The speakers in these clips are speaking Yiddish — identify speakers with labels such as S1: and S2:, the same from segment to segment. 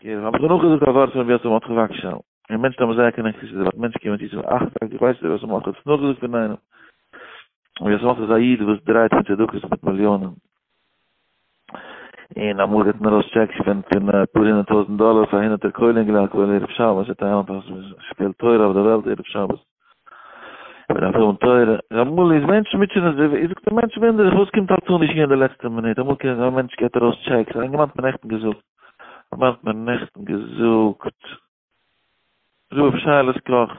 S1: און האב איך נאך געזאגט א ווארט פון רבי יוסף מרדכי וואגשאהל, און מענטשן האבן זייער קענען חסידות, אבער מענטשן קומען צו צו מיר, אך טאקע ווייסט רבי יוסף מרדכי האט עס נאכגעזאגט פון איינעם? רבי יוסף מרדכי איז א איד וואס דרייט מיט צדקות מיט מיליאנען, און אמאל געבט מען ארויס טשעקס פון פון אפאר הונדערט טויזנט דאלער פאר הונדערטער כוללים געלערנט כולל ערב שבת, ער טייל אויס שפיל תורה אויף די וועלט ערב שבת. ער דארף האבן תורה, ר' מולי איז מענטשן מוטשענען זיך, איך זאג די מענטשן ווינדערן זיך וואס קומט אלץ אן אישי אין די לעצטע מינוט, אמאל קען זיין א מענטש געט ארויס טשעקס, איינער האט מיר נעכטן געזאגט, איינער האט מיר נעכטן געזאגט, ר' אפשאלעס קאך,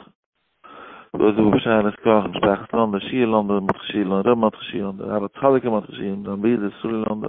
S1: וואס איז ר' אפשאלעס קאך, משפחת לאנדא, שיעור לאנדא, מטכ שיעור לאנדא, ר' מטכ שיעור לאנדא, ר' צדיק'ל מטכ שיעור לאנדא, זיין ברודער סרולי לאנדא,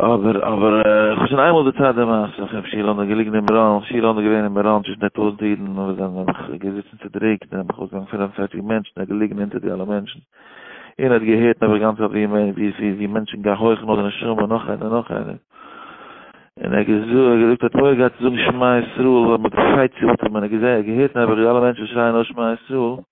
S1: אבער, אבער, איך האב שוין איינמאל דערציילט די מעשה פון רבי שילה אונגאר געליגן אין מירון, רבי שילה אונגאר געווען אין מירון צווישן די טויזנט אידן, און ווען זיי האבן געזיצן צודריקט, זענען נאך אויסגעגאנגען פינף און פערציג מענטשן, ער איז געליגן אונטער די אלע מענטשן, און ער האט געהערט נעבעך גאנץ אויף ווי מענטשן געהויכן אויף די נשמה, נאך איינער, נאך איינער, און ער האט געזאגט, ער האט אויך געהאט צו זאגן שמע ישראל, און מען האט געשרייט צו אטעמען, ער האט געזען, ער האט געהערט נעבעך ווי אלע מענטשן שרייען אויס שמע ישראל,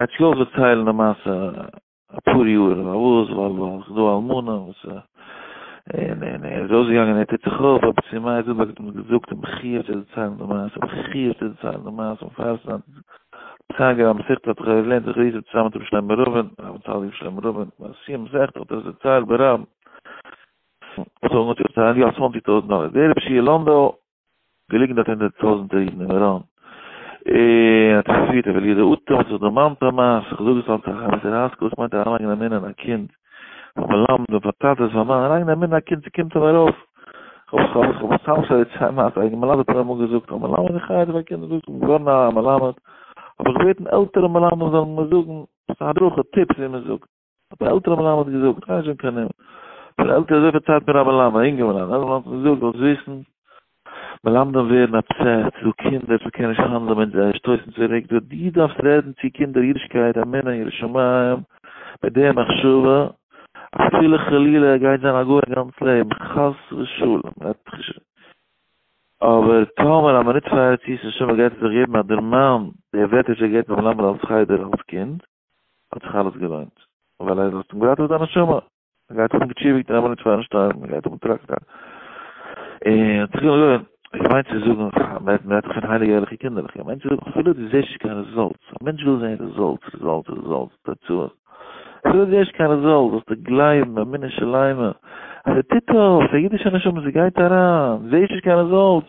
S1: ער האט זיך אויך דערציילן די מעשה אפאר יאר און פארוואס ווייל ווייל ס'איז דא אלמנה וואס א און און ער איז אויסגעגאנגען ער טוט זיך אויף אבער צו מייער זילבערג האט אים געזאגט אים איך חייב צו דערציילן די מעשה איך חייב צו דערציילן די מעשה און פאר ס'איז א ציין געווען מסכת אתך אויב לערנט זיך ריזל צוזאם מיט רבי שלמה רובין רבי צל יב שלמה רובין ביי סיום מסכת האט ער עס דערציילט ביי רב האט ער אנגעטוהן צו דערציילן יא צוואנציג טויזנט דאלער דער רבי שיהיה לאנדא געליגן דארט הונדערט טויזנטער אידן אין מירון, און האט עס געפירט רבי אליעזר אטא, האט זיך דערמאנט א מעשה, איך זאג עס אלץ א חמסה ראסקל, וואס מיינט אריינלייגן א מנין אין א קינד, פאר מלמד און פאר טאטעס, פאר מאן, אריינלייגן א מנין אין א קינד, ס'קומט אים ארויף, כ'האב עס סתם שוין צוויי מעשה, א מלמד האט מיר אמאל געזאגט, א מלמד איך הייב אויף א קינד, זאגט ער, געווארן א מלמד, האב איך געבעטן עלטערע מלמדים זאלן מיר זאגן, הדרכה, טיפס ווי מ'זאגט. האט דער עלטערער מלמד געזאגט, גיי נישט אונטער נעמען, פון די עלטערע אזויפיל צייט מיר א מלמד, א אינגער מלמד, עלטערער מלמד האט מיר געזאגט, זאלסט וויסן, מלמדים ווערן אבסעסט, ס'דא קינדער, ס'קען נישט האנדלען מיט זיי, שטויסן צוריק, דו דו דארפסט רעדן צו קינדער אידישקייט, אמונה, יראת שמים, מיט די מחשבה, אפילו חלילה ער גייט זיין א גוי א גאנץ לעבן, חס ושלום, רעדט זיך נישט, אבער טאמער א מינוט פאר ארץ ישראל, שומער גייט ער זיך געבן א דערמאן, די ווערטער וואס ער געבט דעם מלמד אלס חדר, אלס קינד. האט זיך אלעס געלוינט, ווייל ער האט אים געראטעוועט זיין נשמה, ער גייט האבן געטשיוויגט אין אמענעט פיינשטיין, ער גייט האבן טראקטאר, און האט זיך געלוינט. איך מיין צו זאגן, מען רעדט דאך פון הייליגע ערליכע קינדערלעך, איך מיין צו זאגן, אפילו דו זעסט נישט קיין רעזאלטס, א מענטש וויל זען רעזאלטס, רעזאלטס, רעזאלטס, תוצאות, אפילו דו זעסט נישט קיין רעזאלטס, זאלסטו גלייבן באמונה שלימה, אז ער טוט אויף, די אידישע נשמה, זי גייט אריין, זעסט נישט קיין רעזאלטס,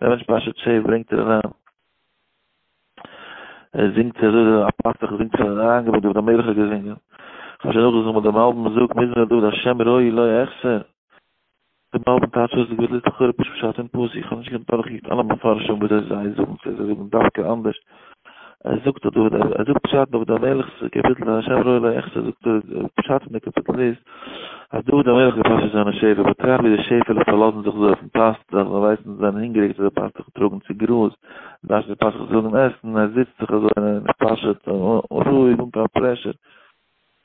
S1: ווען מענטש פאשעט שעיף ברענגט ער אריין ער זינגט ער איז א פאסטעך זינגט פאר אריין געבן דוד המלך האט געזינגען כאשע נאך דאס וואס דעם אלבום זאגט מזמור דוד השם רואי לא יחסר דעם אלבום טייטש אויס די גדלות לכאורה פשוט פשט אין פאסיק איך האב נישט געקענט דורכקוקן אלע מפרשים וויאזוי זיי זאגן צו זיי זאגן דווקא אנדערש ער זאגט אז דוד, ער זאגט פשט דוד המלך'ס קאפיטל אין השב ר אלא איך ש זאגט ער פשט פון די קאפיטל איז אז דוד המלך האט געפאשעט זיינע שעפעלע באטראכט ווי די שעפעלע פארלאזן זיך אזוי אויפן פאסטוך זיי זאלן ווייסן זיי זענען הונגעריג זיי זאל פאסטוך טראגן צו גראז דארף די פאסטוך זאגן עסן ער זיצט זיך אזוי און ער פאשעט רואיג אן קיין פרעשור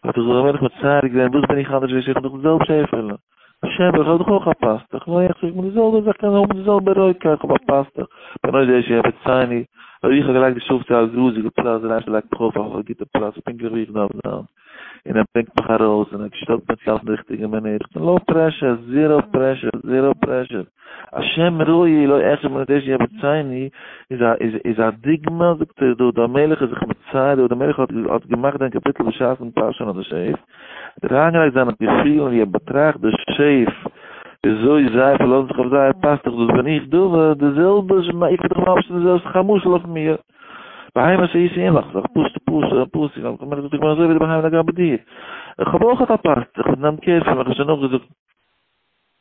S1: האט ער זיך א ווייניג מצער געווען, וואס בין איך אנדערש ווי שוין, איך האב דאך די זעלבע שעפעלע, בשם איך האב דאך אויך א פאסטוך, נו איך טראג מיט די זעלבע זאך, קען האבן די זעלבע רויטקייט, איך האב א פאסטוך, בין אויך דער שעפער, צייני, אויב איך האב געלייגט די שופטי א גראזיגע פלאץ, דער אייבערשטער לייגט מיך אויף אויף א גוטע פלאץ, פונקטליך ווי איך דארף זיין, און ער ברענגט מיך ארויס, און ער שטעלט מיך צו אלס די ריכטיגע מינוט, איך בין לאו פרעשור, זיראו פרעשור, זיראו פרעשור. השם רואי לא אחי מנדש יעבוד צייני איז א דוגמא זאגט ער דוד המלך איז זיך מצייר דוד המלך האט געמאכט זיין קאפיטל בשעת'ן פארשען אט די שעיף ער האט אריינגעלייגט זיינע געפילן ווי ער באטראכט די שעיף וויאזוי זיי פארלאזן זיך אויף זיי ער פאסט דאך דאס בין איך דוד די זעלבע איך בין דאך ממש די זעלבסט מאך א משל אויף מיר בהמה שעיס אין לך זאך פשוט פשוט פשוט דוד המלך זאגט איך בין אזוי ווי די בהמה לגבי דיר איך האב אויך א פאסט איך האב גענומען קער פון מיך איך האב שוין נאכגעזאגט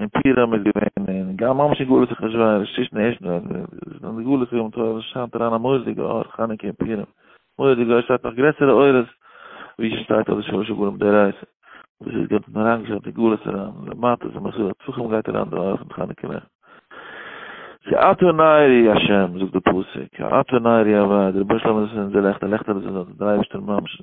S1: אין פירם איז געווען אין גאר ממש אין גלות איך נישט ווייס נישט צווישן די ערשטן וועלט אין די גלות יום טוב עס שיינט אריין א מורא'דיגע אור חנוכה אין פירם מורא'דיגע אור שטייט נאך גרעסערע אורות ווי שטייט אויף די שלושה גלים די רייס וואס איז געבט אין אריין געשטעלט די גלות אריין למטה איז מסור הצלחים גייט אריין די אור פון חנוכה נעכט כי אתה נערי השם זאגט די פסוק כי אתה נערי אביי דער רבונו של עולם איז אונזער לעכטער לעכטער איז אונזער דער אייבערשטער ממש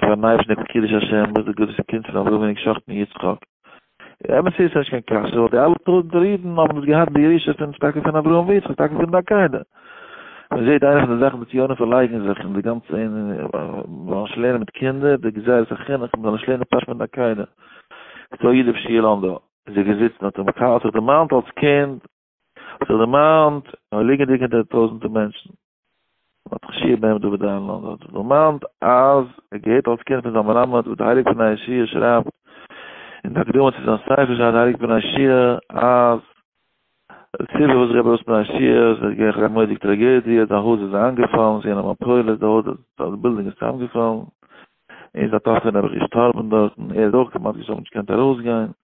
S1: פאר נייעס נעבעך קידוש השם מוז די גוטע קינד פון אברהמעניק שחט'ן יצחק. אמת איז ס'נישט קיין קשיא ווייל די אלע טויזענטער אידן האבן דאס געהאט בירושה פון טאקע פון אברהם ויצחק טאקע פון די עקידה. מ'זעהט איינע פון די זאכן די ציונים פארלייגן זיך אין די גאנצע אין זאל נישט לערנען מיט קינדער די גזירת החינוך מ'זאל נישט לערנען פשט פון די עקידה. סאו יעדער פשעלאנדא איז ער געזיצן האט ער האט זיך דערמאנט אלס קינד. האט זיך דערמאנט, ליגענדיג אונטער די טויזנטער מענטשן, האט זיך שי בן דוד אהרנלאנד האט זיך דערמאנט אז ער געהערט אלס קינד פון זיין מלמד וואס דער הייליגער בן איש י שרייבט אין די הקדמה צו זיין ספר שרייבט דער הייליגער בן איש י אז די סיבה וואס רבי אלס בן איש י איז עס איז געווען א מודיג טראגעדיע זיין הויז איז איינגעפאלן זי אינעם אפולת די הויז איז די בילדינג איז צוזאמגעפאלן און זיין טאטער נעבעך געשטארבן דארטן ער איז אויך כמעט געשטארבן נישט געקענט ארויסגיין.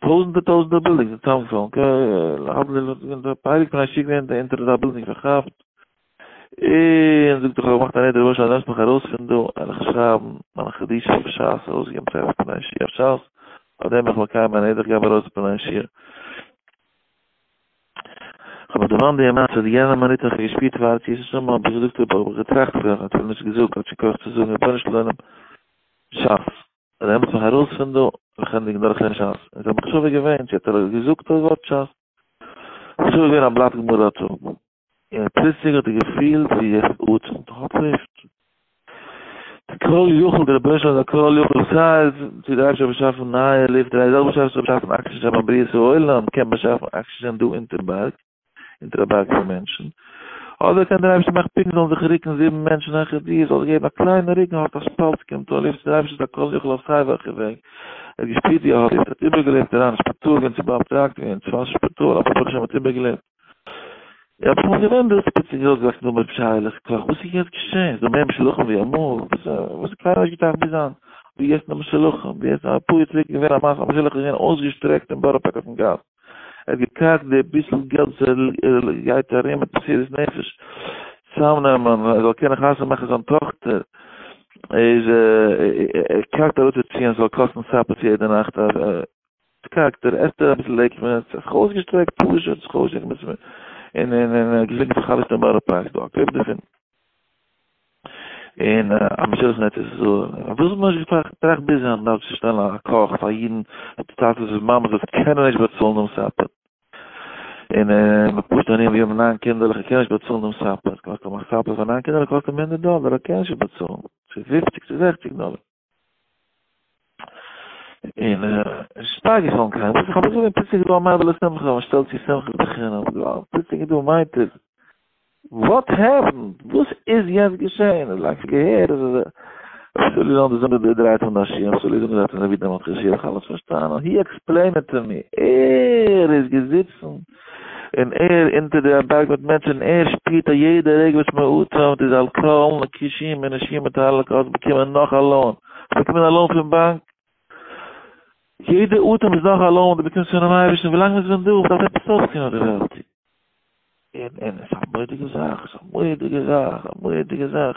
S1: טויזנטער טויזנטער בילדינגס אין סעמסאנג ק ל האבן זיי זיך געווען דער פייליג פון א שיק ווען דער ענטער די בילדינג פארכאפט און זאגט איך האב געמאכט א נדר רבונו של עולם לאמסט מיך ארויס פון דא על איך שרייבן מיין קדיש אויף שס ארויסגעבן צעטל פון א שי אויף שס אויף דעם בין איך מקיים מיין נדר איך געב ארויס פון א שי כ'האב מיך דערמאנט די מעשה די יענע מינוט האב איך געשפירט פאר יעשו שמים האב איך געזאגט האב איך געטראכט איך האב נישט געזאגט כאטש איך האב געקויפט צו זאגן רבונו של עולם שס און ער מוז זיך ארויס פון דא וכנדיג דרכי שס. און זיי האבן חשובע געווען צו האט ער געזאגט דאס ווארט שס. חשובע געווען א בלאט גמרא האט ער. און פלוצלינג האט ער געפילט ווי ער אטעמט האלב לופט. די כל יכול די רבונו של עולם כל יכול סיי צו די אייבערשטער האט באשאפן נייע לופט די זעלבע שעה וואס ער האט באשאפן אקסידזשען ביים בריאת העולם קען באשאפן אקסידזשען דא אונטער בארג. און טראבאק פאר מענטשן, אדער קען דער אייבערשטער מאכן פונקט זאלן זיך רוקן זיבן מענטשן העכער דיר, זאלסט געבן א קליינע רוק און האלט א שפאלטץ קומט אן לופט, דער אייבערשטער איז א כל יכול אויף סיי וועלכע וועג, ער האט געשפירט ווי ער האט געזעצט, ער האט איבערגעלעבט אריין אין שפיטאל געווען צו באאפטראגט ווערן צו פארן שפיטאל, אבער ברוך השם ער האט איבערגעלעבט. איך האב אמאל געווען דארט ספעציעל געזאגט נאר מיט פשרה'לעך כח, וואס איז יעצט געשען? איז דא מער משולחים ווי אמאל? וואס איז קיינער האט נישט געטראכט ביז היינט ווי יעצט נאר משולחים, ווי יעצט אפאר יאר צוריק איז געווען א מאסע משולחים איז געווען אויסגעשטרעקט אין בארא פארק אויפן גאס, ער האט געטראכט די ביסל געלט וואס ער גייט ארום מיט מסירות נפש צוזאמנעמען ער זאל קענען חתונה מאכן זיין טאכטער, איז ער קארגט אראפצוציען עס זאל קאסטן סאפער צו יעדע נאכט, קארגט ער, עסט ער אביסל לעקט מען, האט זיך אויסגעשטרעקט פשוט, און געזאגט איך האב א חבר אין בארא פארק, דא א קליפ דערפון. און א משולחן ארץ ישראל, וואס מ'האט נישט געטראכט ביז היינט נאר צו שטעלן א קאך פאר אידן די צייט וואס די מאמעס דארט קענען נישט באצאלן דעם סאפער, און מיט פשוטע ענינים ווי האבן ניין קינדערלעך און קענען נישט באצאלן דעם סאפער, קאסט א סאפער פאר ניין קינדערלעך קאסט אים הונדערט דאלער, ער קען נישט באצאלן, צו פופציג צו זעכציג דאלער. אין שטארק געפאלן קיין פסח אבער זאגן פסח דא מאבל איז שמחה און שטעלט צו שמחה בחינם געוואלד פסח דא מיינט עס וואט העפן וואס איז יעצט געשען איז לאנג געהערט אז עס אפשר ליזן דאס זאגן די דרייט און דאס שיער אפשר ליזן דאס זאגן די ווידער מאט קאשיר איך האלץ פארשטאנען הי עקספלעין איט טו מי ער איז געזיצן און ער אונטער די א בארג מיט מענטשן און ער שפירט א יעדע רגע וואס מען אטעמט איז על כל נקישים ונשימים מתהלק האסט באקומען נאך א לאון האסט באקומען א לאון פון באנק יעדע אטעם איז נאך א לאון וואס דו באקומסט פונעם אייבערשטן ווילאנג מען איז ווען דא דארף עפעס אויפטון אויף די וועלט און און עס איז א מורא'דיגע זאך עס איז א מורא'דיגע זאך א מורא'דיגע זאך.